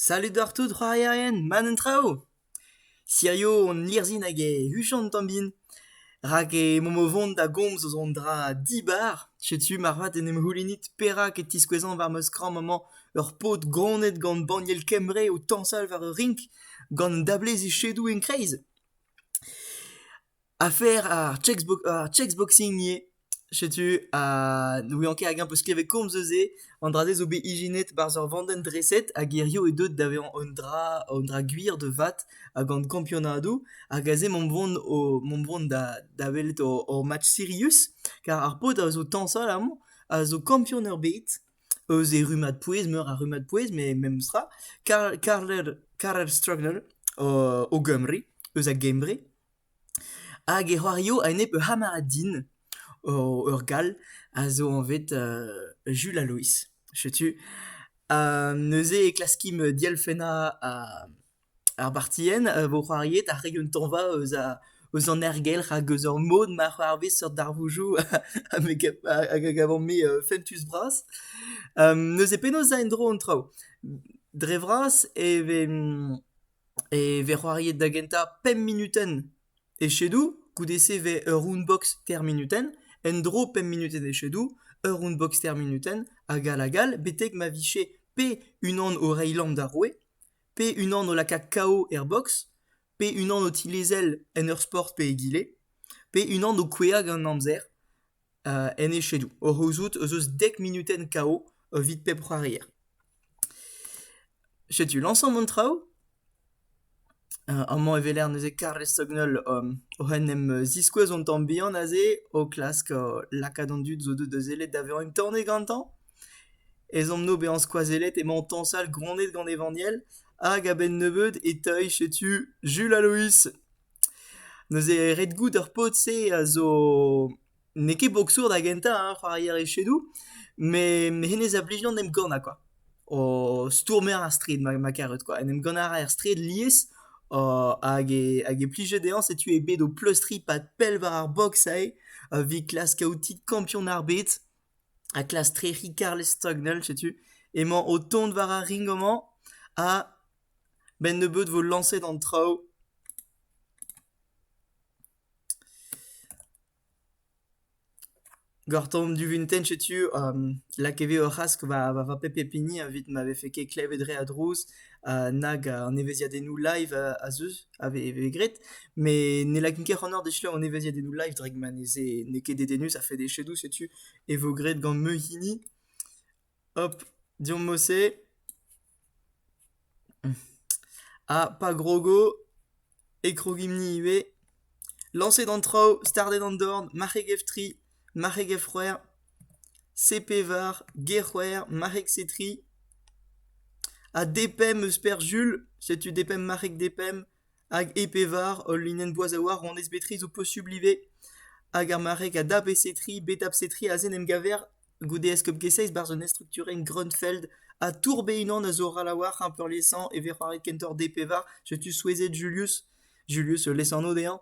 Salud oc'h tout c'hoarierien, mat an traoù! Hirio hon lirzhin hag e huchont tamm-bin, rak emaomp o vont da gomz eus an dra dibar. Setu moarvat en em c'houlenit perak e tiskouezan war ma skramm amañ ur paotr ganet gant banniel Kembre o tañsal war ur rink gant un dablez echedoù en-kreiz. Afer ar checkbox ar checkboxing ivez. Setu ha n'oublian ket hag-eñ 'peus klevet komz eus se. An dra-se zo bet ijinet 'barzh ur vandenn-dreset ha gerioù eo deuet da vezañ un dra un dra gwir de vat ha gant kampionadoù. Hag aze m'omp boan o m'omp boan da da welet hor hor match sirius. Kar ar paotr a zo tañsal amañ a zo kampion ebet eus e rummad-pouez, meur a rummad-pouez met memestra. Karl Karler Karel Strugler o o Gymru eus a Gembre. Hag e c'hoario a-enep ur c'hamarad din, ur Gall, a zo anvet Jules Alois. Setu neuze e klaskimp dielfennañ ar bartienn a vo c'hoariet ha reiñ un tañva eus an aergelc'h hag eus ar mod ma c'hoarvez seurt darvoudoù hag a gavan-me fentus-bras. neuze penaos 'za en-dro an traoù? Dre vras e vez E vez c'hoariet da gentañ pemp munutenn. Echedoù, goude-se 'vez ur roundbox ter munutenn, en-dro pemp munutenn echedoù, ur roundbox ter munutenn, hag all hag all, betek ma vije pe unan o reiñ lamm d'ar roue, pe unan o lakaat KO er boks, pe unan o tilezel en ur sport pe egile, pe unan o kouezhañ gant amzer. en echedoù o c'houzout ez eus dek munutenn KO evit pep c'hoarier. Setu lañsamp an traoù. amañ e weler neuze Karl Stognell oc'h en em ziskouez an tamm bihan aze, o klask lakaat an dud zo deuet da sellet da vezañ un tornez gantañ. Ezhomm-no bezañ skoazellet emañ tañsal gronnet gant Evaniel hag a-benn nebeud e teuy setu Jules Aloïs. Neuze ret goût ar paotr-se a zo n'eo ket boksour da gentañ hein, c'hoarier echedoù, met hennezh a blij d'an emgannañ kwa. O stourmer ar straed ma ma karet kwa, en em gannañ a ra er straed lies hag e hag e plije dezhañ setu eo bet o pleustriñ 'pad pell war ar boks aze evit klask kaout kampion ar bed ha klask trec'hiñ Karl Stagnell setu emañ o tont war ar ring amañ ha Benn-nebeut 'vo lañset an traoù. Gortoomp duvintenn setu lakaet eo ur c'hask war va pep pep hini evit ma vefe ket klevet re a drouz nag an evezhiadennoù live az eus a vez graet. Met ne lakin ket c'hanoc'h dechedañ an evezhiadennoù live drak ma ne ket dedennus a-fed echedoù setu e vo graet gant me hini. Hop, deomp Mossé. Ha pa grogo e krogimp-ni ivez. Lañset an traoù, stardet an dorn, marc'heg-F3, marc'heg-F c'hwec'h, CP-var, G-c'hwec'h, marc'heg-C3. Ha depemp eus Pêr Jul, setu depemp marc'heg depemp, hag EP-var, ul linenn boaz a-walc'h, honnezh bet tri zo posubl ivez. Hag ar marc'heg a dap e C3, bet dap C3, aze en em gaver goude eskob Geseiz barzh un estrukturenn Grunfeld ha tourb e-unan a zo ral a-walc'h hein, peurliesañ e vez c'hoariet kentoc'h D-pevar setu souezhet Julius Julius lesanv dezhañ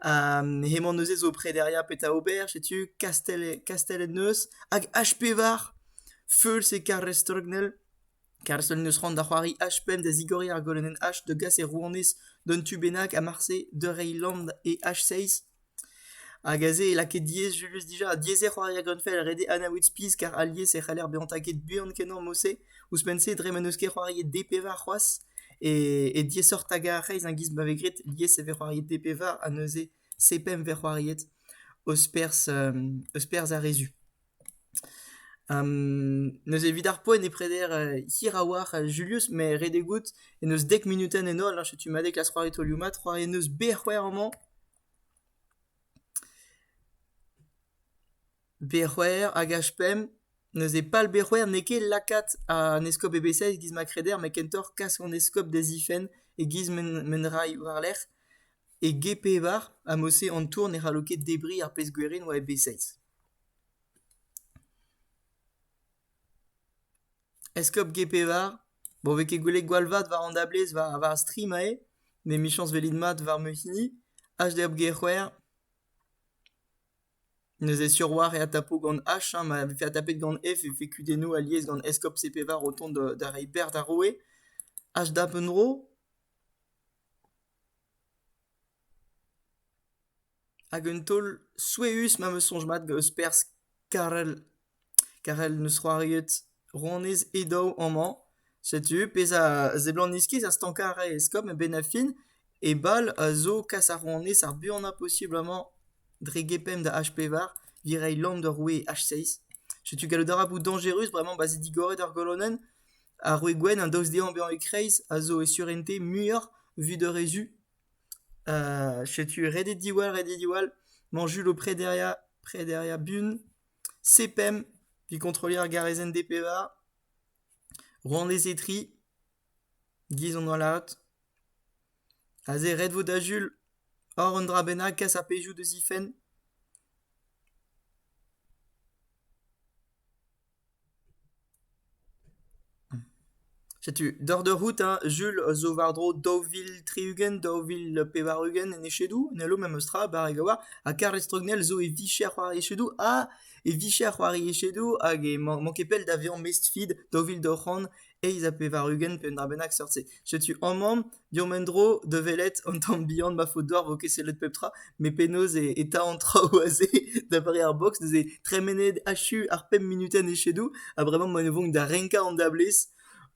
ha hemañ neuze zo prederia petra ober setu kastell kastellet neuz hag H-pevar feuls e Karrestrgnel Karrestrgel neus c'hoant da c'hoari H-pemp da zigoriñ ar golonenn H da gas e rouanez d'un tu bennak ha marse da reiñ land e H-seiz Hag aze e lakae diaes jules dija. Diaes eo c'hoari a gavfell rede anaout spi car alies e c'haller bezañ taget buan-kenañ morse. Ouzhpenn-se dre ma n'eus ket c'hoariet D-pevar c'hoazh e diaesoc'h tagañ ar c'hreiz a-giz ma vez graet. Lies e vez c'hoariet D-pevar ha neuze C-pemp e vez c'hoariet eus perzh eus perzh ar re zu. Neuze evit ar poent e preder hir a-walc'h Julius met redek out en deus dek munutenn en holl, setu mat eo klask c'hoari taolioù-mat, c'hoari en deus B-c'hwec'h amañ. B-c'hwec'h hag H-pemp, neuze pal B-c'hwec'h n'eo ket lakaat an eskob EBCS e-giz ma kreder, met kentoc'h kas an eskob da zifenn e-giz m'en ray war-lerc'h. E G-pevar ha mod-se an tour ne c'hallo ket debriñ ar pezh gwerin war EB6. Eskob Gepevar, bon 'vez ket gwelet gwall vat war an dablez war ar stream aze, met emichañs 'velit mat war ma hini, HDOP Gec'houer. Neuze sur 'oar eo adtapout gant H, hein, ma vefe adtapet gant F e vefe kudennoù alies gant Eskob CP-Var o tont da da reiñ berzh d'ar roue. HDAP un dro. Hag un taol souezhus ma 'm eus soñj mat eus perzh Karel. Karel 'neus c'hoariet rouanez he daou amañ. Setu pezh a seblant iskis ar stankañ a rae eskob a-benn ar fin. E bal a zo kas ar rouanez ar buanañ posubl amañ dre gepemp da H pevar evit reiñ lamm d'ur roue H6. Setu gallout a ra bout dañjerus bremañ pa 'z eo digoret ar golonenn. Ar roue gwenn, an daoust dezhañ bezañ e-kreiz, a zo e surentez muioc'h evit ur re zu. setu redet diwall redet diwall mañ Jul o prederiañ prederiañ bun C-PEM 'vit kontrolier ar garezenn D-pevar rouanez Etri 'giz on hollad aze ret vo da Jul oc'h un dra bennak kas ar pezhioù da zifenn Setu, doc'h eur c'hoût ha Jul zo war-dro daou vil tri-ugent, daou vil pevar-ugent en echedoù. N'hello memes tra barrek a-walc'h. Ha kar estrognel zo e vicher war echedoù ha e vicher war e echedoù hag emañ ket pell da vezañ mestr-feed daou vil daou c'hant eizh ha pevar-ugent pe un dra bennak seurt-se. Setu amañ diorren en-dro da welet an tamm bihan ma faot deoc'h vo ket sellet pep tra, met penaos e, e ta an traoù aze da vare ar box, neuze tremenet achu ar pemp minutenn echedoù, ha bremañ ma ne vonk da renkañ an dablez,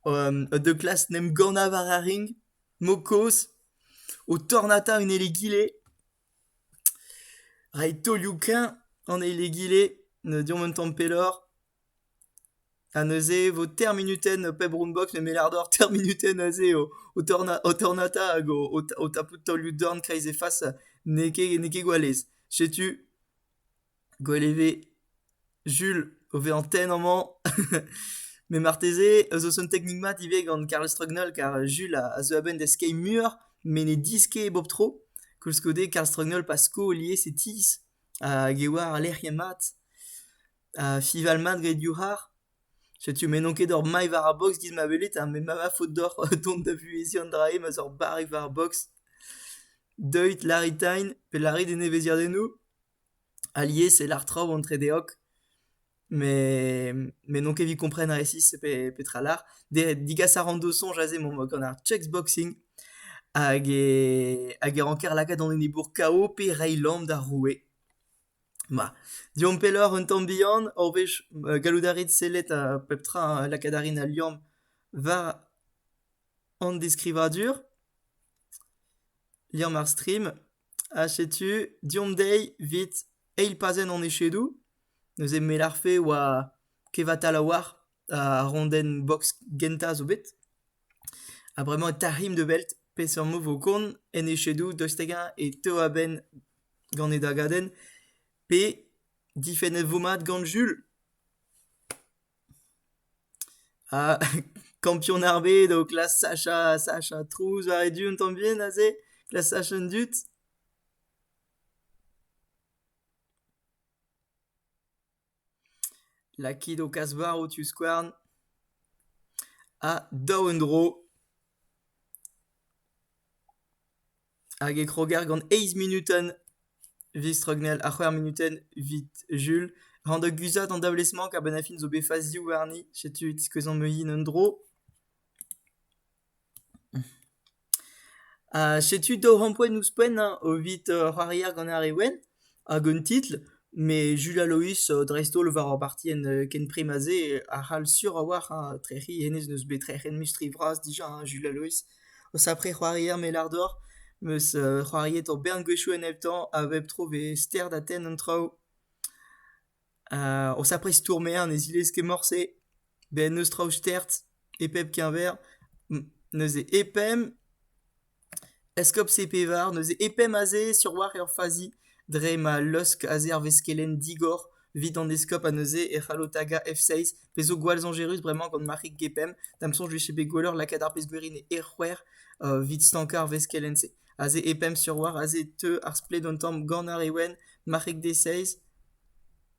um, de klas n'em gana war ar ring, mokoz, o tornata un elegile, rait taolioù-keñ an elegile, ne diomp un tamm pelloc'h, Ha neuze e vo termunutenn pep rombog nemet ardor termunutenn aze o tornata hag o tapout taolioù-dorn kreiz he fas n'eo ket gwalez. Setu gwell e ve Jules o vezañ tenn amañ. met marteze zo un teknik mat ivez gant Karl Strugnall car Jules a zeu a-benn da skeiñ muioc'h met ne diskei bep tro. Koulskoude Karl Strugnall pa sko lies e tizh hag e oa al lec'hienn mat. Fival mat get div c'harr. Setu m'emaon ket oc'h mailh war ar boks giz ma welit ha m'emañ va faot deoc'h dont da vuheziñ an dra-se ma'z oc'h barrek war ar boks. Deuit, lârit tain pe lârit e neveziadennoù. Alies e lâr traoù entre deoc'h met met n'on ket evit kompren resis pe petra lâr. Degas a ran d'ho soñj aze emaomp gant ar chessboxing hag e hag e ranker lakaat an enebour KO pe reiñ lamm d'ar roue. Ma, deomp pelloc'h un tamm bihan ur wech gallout a rit sellet pep tra lakaat a rin al liamm war an deskrivadur. Liamm ar stream. Ha setu deomp dezhi evit eil pazenn hon echedoù. Neuze me 'larfe oa kevatal a-walc'h. ar rondenn box gentañ zo bet. Ha bremañ e tarc'himp da welt peseurt move 'vo kont en echedoù daoust hag-eñ e teu a-benn gant e dagadenn pe difennet 'vo mat gant Jules. Ha kampion ar bed o klask sachañ sachañ trouz war e du un tamm bihan aze, klask sachañ an dud. Lakit ho kazh-varv diouzh skouarn ha daou en-dro hag e kroger gant eizh munutenn vistrgnel ha c'hwec'h munutenn evit Jul. Ran da guzhat an dablez-mañ, kabenn ar fin zo bet faziou warni. Setu e tiskouezan meuilhin un-dro. Setu daou c'hampoenn ouzhpenn evit c'hoariañ gant ar re wenn hag un titl met Julia Loïs dreist-holl war ur bartienn ken prim ha se a c'hall sur a-walc'h trec'hiñ hennezh n'eus bet trec'hiet mui stri vras dija Julia Loïs. Os après c'hoarier me lar deoc'h 'meus c'hoariet ur bern gwezhioù en hep tamm a bep tro 'vez ster da tenn an traoù. O sapre stourmer ne zilez ket morse, bet n'eus traoù stert e pep keñver, neuze e pemp eskob Sepevar, neuze e pemp aze sur 'walc'h eo ur fazi dre ma leusk aze ar veskelenn digor evit an eskob ha neuze e c'hallo tagañ F6 pezh zo gwall soñjerus bremañ gant Marc'hig Gepemp, da'm soñj 'vije bet gwelloc'h lakaat ar pezh-gwir int e c'hwec'h evit stankañ ar veskelenn-se. Aze e pemp sur war aze e teu ar splet un tamm gant ar Ewen, marc'heg D6,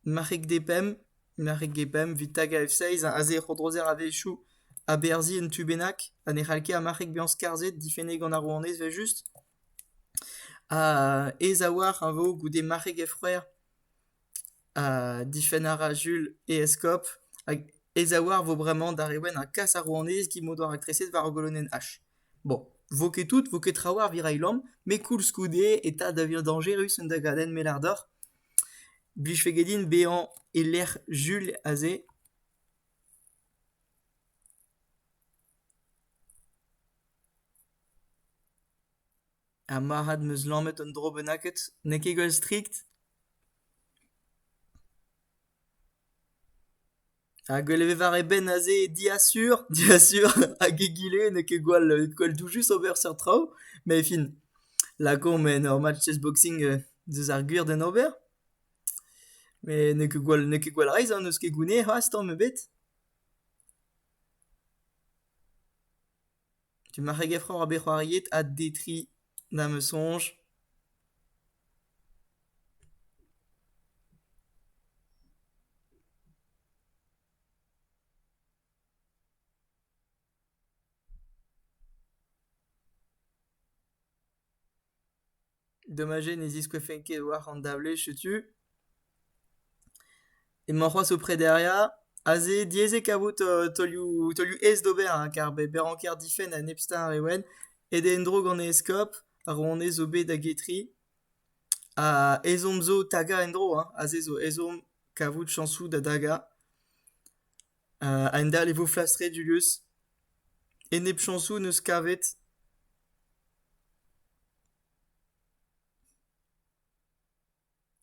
marc'heg D5, marc'heg G5 evit tagañ F6, aze e c'hodrozer a-wechoù aberzhiñ un tu bennak ha ne c'hall ket ar marc'heg bezañ skarzhet, difennet gant ar rouanez evel-just. Ha aes a-walc'h a vo goude marc'heg F-c'hwec'h. ha difenn a ra Jules e eskob hag e zaouarn 'vo bremañ d'ar re wenn ha kas ar rouanez git m'o doa raktreset war ar golonenn H. Bon, 'vo ket tout, 'vo ket trawalc'h 'vit reiñ lamm, met koulskoude eta da vezañ dañjerus un dagadenn mellard deoc'h. Blijfe get din bezañ e-lec'h Jules aze. Ha marc'had 'm eus lammet un dro bennaket n'eo ket gwall strikt ? Ha gwell e ve war e benn aze diasur, diasur hag egile n'eo ket gwall gwall doujus ober seurt traoù, met fin, lakaomp ur match chessboxing deus ar gwir d'en ober. Met n'eo ket gwall n'eo ket gwall reizh ha n'eus ket gounez c'hoazh tamm ebet. Emañ re gefroc'h bet c'hoariet ha detriñ da'm eus soñj. Dommage ne ziskouezfen ket war an dablez, setu. Emañ c'hoazh o prederia. Aze diaes eo kavout taolioù taolioù aes d'ober hein, kar be be ranker difenn a nep stad e ouenn. Aet eo en-dro gant e eskob a ro honnezh zo bet da getri. Ha ezhomm zo tagañ en-dro hein, aze zo ezhomm kavout chañsoù da dagañ. A-hend-all e vo flas-tre Julius. Enep-chañsoù 'neus kavet.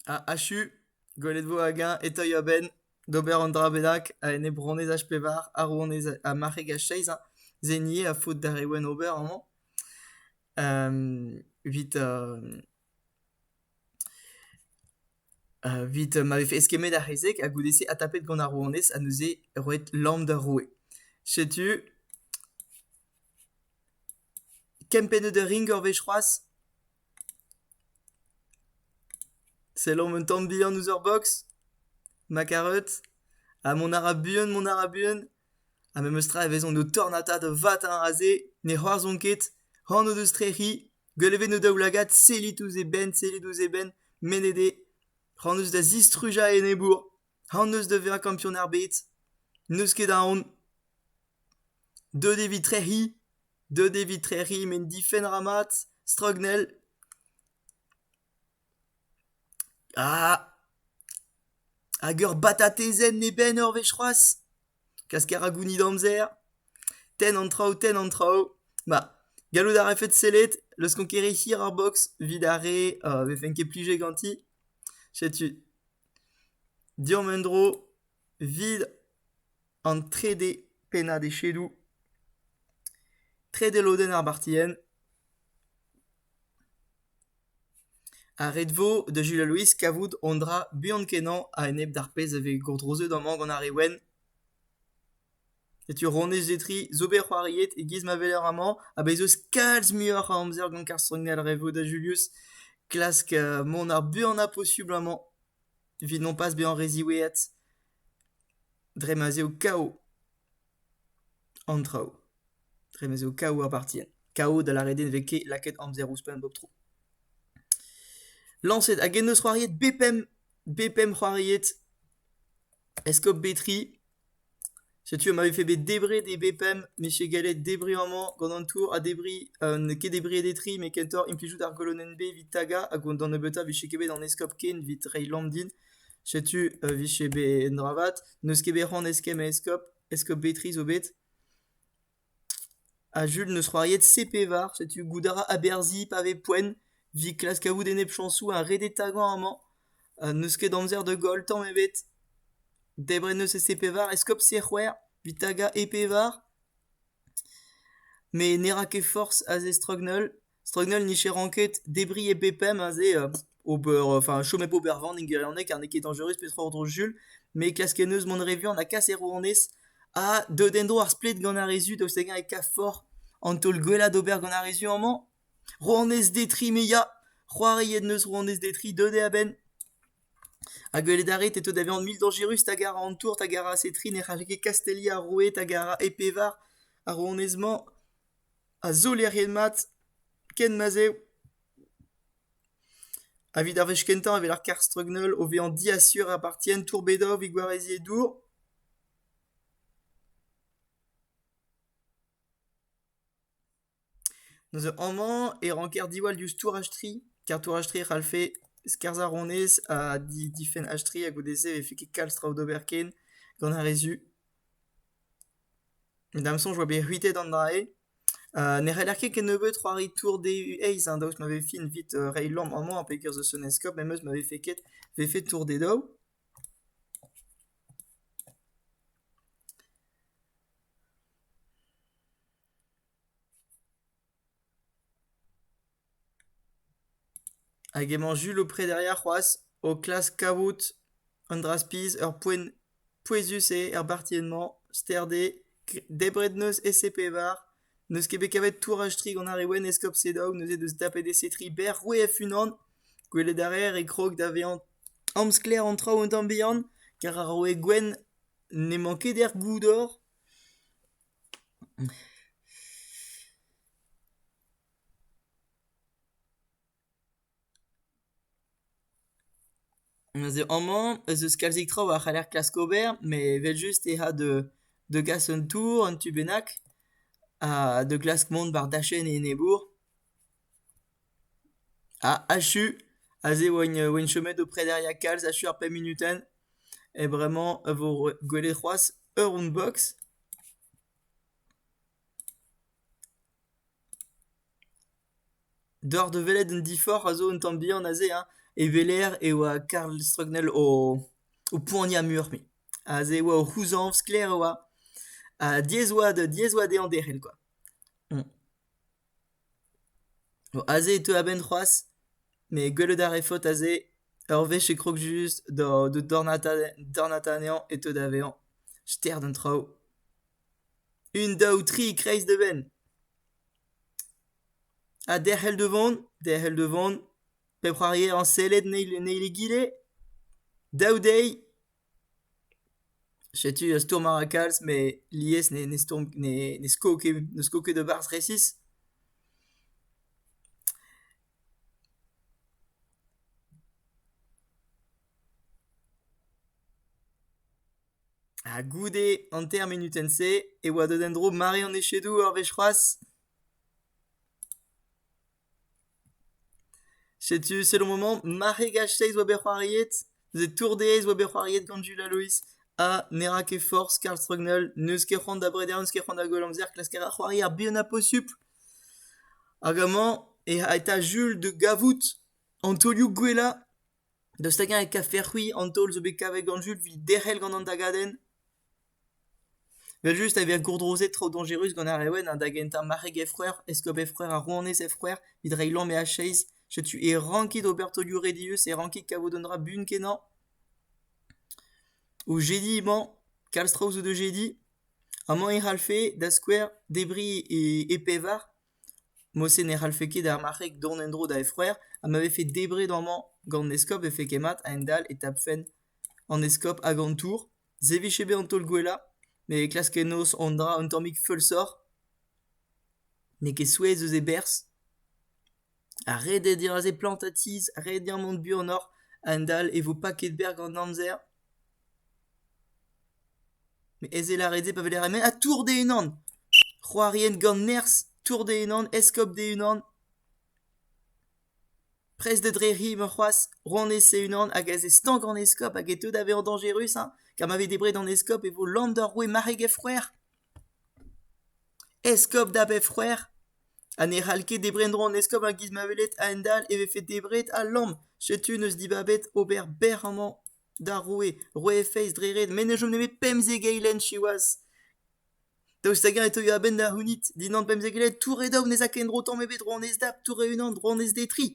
Ha achu, gwelet 'vo hag-eñ e-teuy a-benn d'ober an dra bennak a-enep ronez H-pevar ha ronez ha marc'heg H-seiz hein. Se 'nie a faot d'ar re wenn ober amañ. Evit Evit ma vefe eskemmet ar c'hezeg ha goude-se adtapet gant ar rouanez ha neuze roet lamm d'ar roue. Setu kempennet ur ring ur wech c'hoazh. Sellomp un tamm bihan ouzh ur boks. Ma kareud. Ha mont a ra buan, mont a ra buan. Ha memes tra e vezont o tornata da vat hein aze. Ne c'hoarzhont ket. C'hoant o deus trec'hiñ. Gwell e vez o daoulagad sellit ouzh e benn, sellit ouzh e benn, mennet eo. C'hoant eus da zistrujañ e enebour. C'hoant eus da vezañ kampion ar bed. N'eus ket aon. Deut evit trec'hiñ. Deut evit trec'hiñ met difenn ra mat. Strognell. Ah ! hag ur batatezenn e benn ur wech c'hoazh ? Klasker a gounit amzer ? Tenn an traoù, tenn an traoù. Ma, gallout a refed sellet, leuskomp ket re hir ar boks evit ar re a vefen ket plije ganti. Setu. Deomp en-dro, 'vid an trede pennad echedoù. Trede lodenn ar bartienn. A red vo da Julia Louis kavout hon dra buan-kenañ a-enep d'ar pezh a vez gourdrozet amañ gant ar re wenn. Setu Ronez Zetri zo bet c'hoariet e-giz ma weler amañ ha bez' eus kalz muioc'h a amzer gant Karl Strangel re vo da Julius klask mont ar buanañ posubl amañ evit nompas bezañ re ziweet. dre ma 'z eo kav an traoù. Dre ma 'z eo kav ar partien. Kav da lâret eo ne vez ket lakaet amzer ouzhpenn bep tro. Lañset hag en deus c'hoariet B5, B5 c'hoariet Escope Betri. Setu ma vefe bet debret e B5, meche gallet debriñ amañ gant an tour ha debriñ, euh, n'eo ket debriet e tri, met kentoc'h implijout ar golonenn B evit tagañ hag d'an nebeutañ vije ket bet an Escope ken evit reiñ lamm din. Setu e vije bet un dra vat. N'eus ket bet c'hoant eskemm a eskob. Eskob Betri zo bet. Ha Jul 'neus c'hoariet C-Pevar. Setu goût a ra aberzhiñ pa vez poent. 'vit klask kavout enep chañsoù ha redet tagañ amañ. n'eus ket amzer da goll tamm ebet. Debret 'neus e C-Pevar. Eskob C-C'hwec'h. 'vit tagañ E-Pevar. met ne ra ket forzh a zestrogn holl. Struggnell n'ije ranket debriñ e bep pemp aze ober enfin chom hep ober van en gwirionez ker n'eo ket dañjerus petra ordro Jul, met klask kenneus mont re vuan ha kas e rouanez ha deut en-dro ar splet gant ar re zu daoust hag-eñ e kaf forc'h an taol gwellañ d'ober gant ar re zu amañ. Rouanez Detri me ya! C'hoariet 'neus rouanez Detri deut eo a-benn. Ha gwelet a rit e teu da vezañ mil dañjerus tag ar an tour tag ar a-se tri ne c'hallfe ket kasteliañ ar roueed hag ar a e pevar ar rouanez-mañ. a zolerien mat ken ma'z eo. Evit ar wech kentañ e vel ar karr streugneul o vezañ diasur a partient tourbedov he gwareziñ e dour. Neuze amañ e ranker diwall diouzh touraj-tri, kar touraj-tri e c'hallfe skarzhañ honnezh ha di difenn h-tri ha goude-se e vefe ket kalz traoù d'ober ken gant ar re zu. Da'm soñj 'oa bet c'hwitet an dra-se. ne c'heller ket kennebeut c'hoari tour dezhi eizh, daoust ma vez fin evit reiñ lamm amañ pekerzh eus un eskob memes ma vefe ket vefe tour d'e daou. Hag emañ Jul o prederiañ c'hoazh, o klask kavout an dra-spizh ur poent pouezus eo er bartienn-mañ, ster dezhe debret n'eus ese-pevar, n'eus ket bet kavet touraj-tri gant ar re wenn eskob Sedaou, neuze deus tapet ese-tri berr c'hwec'h-unan. Gwelet a reer e krog da vezañ amsklaer an traoù un tamm bihan, kar ar roue gwenn n'emañ ket er goudor. Neuze amañ ez eus kalzik traoù a c'haller klask ober met evel-just eh a da gas un tour, un tu bennak ha da glask mont war dachenn e enebour. Ha achu, aze e oan chomet o prederiañ kalz achu ar pemp munutenn e bremañ e vo gwelet c'hoazh ur roundbox. Deoc'h da welet un diforc'h a zo un tamm bihan aze hein, e weler e oa Karl Strugnell o o poaniañ mur-me. Aze e oa o c'houzañv sklaer e oa, ha diaes e oa da diaes e oa dezhañ derc'hel kwa. Aze e teu a-benn c'hoazh, met gwelout a rae faot aze. Ur wech e krog just da dornata anezhañ e teu da vezañ ster d'an traoù. Un, daou, tri, kreizh da benn. Ha derc'hel da vont, derc'hel da vont. Pep c'hoarier a sellet en eil en eil egile. Daou dezhi. Setu ur stourm a ra kalz met lies ne, ne stourm ne, ne sko ket ne sko ket e-barzh resis. Ha goude an ter munutenn-se e oa deut en-dro mare an echedoù ur wech c'hoazh ? Setu selon maman, marc'heg H6 oa bet c'hoariet, neuze Tour DS oa bet c'hoariet gant Jules ha Loïs, ha ne ra ket forzh Karl Strugnell, n'eus ket c'hoant da breder, n'eus ket c'hoant da goll amzer klask a c'hoari ar bihan ha posupl. Hag amañ e eta Jules da gavout an taolioù gwellañ. Daoust hag-eñ e kavfec'h c'hwi an taol zo bet kavet gant Jul evit derc'hel gant an dagadenn? Evel-just e vez gourdrozet traoù dañjerus gant ar re wenn ha da gentañ marc'heg efreur, eskob efreur ha rouanez efreur evit reiñ lamm e acheiz. Setu e rankit ober taolioù re dieus, e rankit kavout un dra buan-kenañ. O jediñ emañ, kalz traoù zo da jediñ. Amañ e c'hallfe, da skouer, debriñ e pevar. Morse ne c'hallfe ket ar marc'heg dont en-dro da e frouezh ha ma vefe debret amañ gant an eskob e vefed ket mat a-hend-all e tapfen an eskob hag an tour. Se 'vije bet an taol gwellañ met e klaskennos an dra un tammig feulsoc'h. N'eo ket souezh eus e berzh. Ha ret eo diraze plantañ tizh, ret eo mont buanoc'h a-hend-all e vo paket berr gant amzer. Me eze lâret se pa vez lâret, met ha tour d'e-unan! C'hoarien gant nerzh, tour d'e-unan, eskob d'e-unan, prest dre rivañ c'hoazh, ronez e-unan hag aze stank an eskob hag e teu da vezañ dañjerus, hein? Ka ma vez debret an eskob e vo land ur roue marc'heg he frouezh. Eskob da bep c'hwec'h ha ne c'hall ket debret en-dro an eskob a-giz ma welet a-hend-all e vefe debret ha lamm. Setu n'eus dibabet ober bec'h amañ d'ar roue. Roue Feiz dre ret, met ne chom nemet pemzek eilenn siwazh. Daoust hag-eñ e teuio a-benn da c'hounit dindan pemzek eilenn ? Tour e daou, ne 'z a ket en-dro tamm ebet, dro annez dap, tour e-unan, dro annez d'e tri.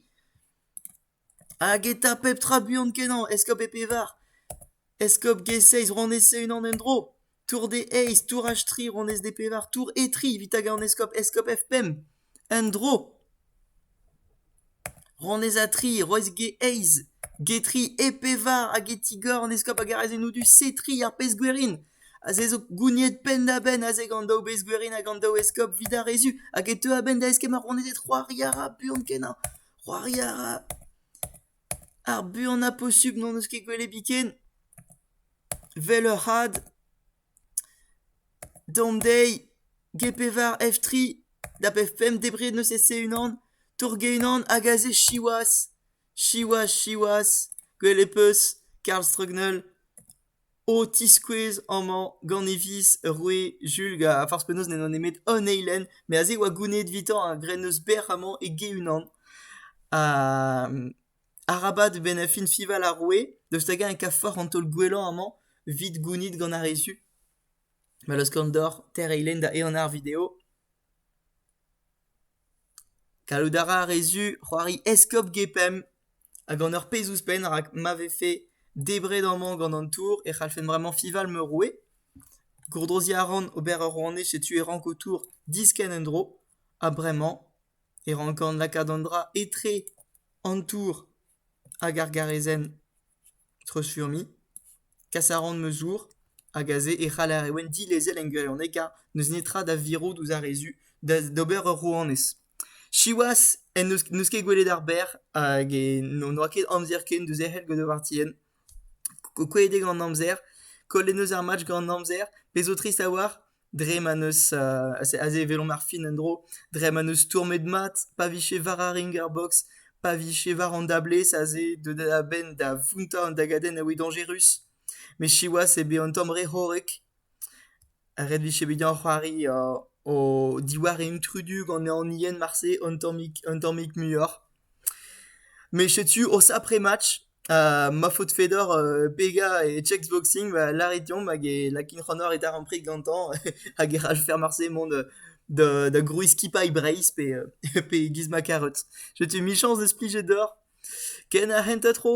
Hag eta pep tra buan-kenañ, eskob e pevar. Eskob G-Seiz ronez e-unan en-dro. Tour D-Eizh, tourH-tri ronez D-Pevar, tour E-Tri evit hag an eskob eskob F-Pemp. En-dro. Ronez A-Tri, roez G-Eizh. G-Tri, E-Pevar hag E-Tigor an eskob hag ar azenou du C-Tri ar pezh-gwerin. Aze zo gouniet penn-da-benn aze gant daou bezh-gwerin hag an daou eskob 'vid ar re zu. Hag e teu a-benn da eskemm ar ronezed c'hoari a ra buan-kenañ. C'hoari a ra. Ar buan ha posubl n'hon eus ket gwelet biken. Vel ur c'had. Dont dezhi. Get pevar F3. Da pemp debret n'eus ket-se unan. Torget unan hag aze siwazh. Siwazh, siwazh. Gwell e peus. Karl Strugnell. o tiskouez amañ gant e viz ur roue Sulk ha forzh penaos n'edo nemet un eilenn met aze e oa gounid evitañ a-grenn eus bec'h amañ e-ge-unan. Arabat bennafi fiñval ar roue daoust hag-eñ e kavfoc'h an taol gwellañ amañ evit gounid gant ar re zu. Ma laoskan deoc'h teir eilenn da ehan ar video. Gallout a ra re zu c'hoari eskob Gepemp ha gant ur pezh ouzhpenn rak ma vefe debret amañ gant an tour e c'hallfen bremañ fival Meroe. Gourdroziñ a ran ober ur rouanez setu e ranko tour diskenn en-dro ha bremañ e rankan lakaat an dra etre an tour. Hag ar garezenn treuzfurmiñ, kas a ran ma zour hag aze e c'haller e ouenn dilezel en gwirionekañ n'eus netra da virout ouzh ar re zu d'ober ur rouanez. Siwazh en deus n'eus ket gwelet ar berr hag n'oa ket amzer ken da zerc'hel gant ar vartienn. Kouezhet eo gant amzer, kollet 'neus ar match gant amzer, pezh zo trist a-walc'h. dre ma n'eus aze e welomp ar fin en-dro dre ma n'eus stourmet mat pa vije war ar ringerbox pa vije war an dablez aze deuet a-benn da vountañ an dagadenn a oe dañjerus met siwazh eo bet un tamm re c'horrek ret vije bet deoc'h c'hoari o diwar intrudu gant an ien marse un tammig un tammig muioc'h met setu o sapre match Ha ma faotr Fedor Bega e checkboxing 'ba lârit deomp hag e lakin c'hanoc'h e darempred gantañ hag e c'hall faire marse mont da da grouizskipailh Breizh pe pe giz ma karot. Setu michañs deus plijet deoc'h. Ken ar c'hentañ tro!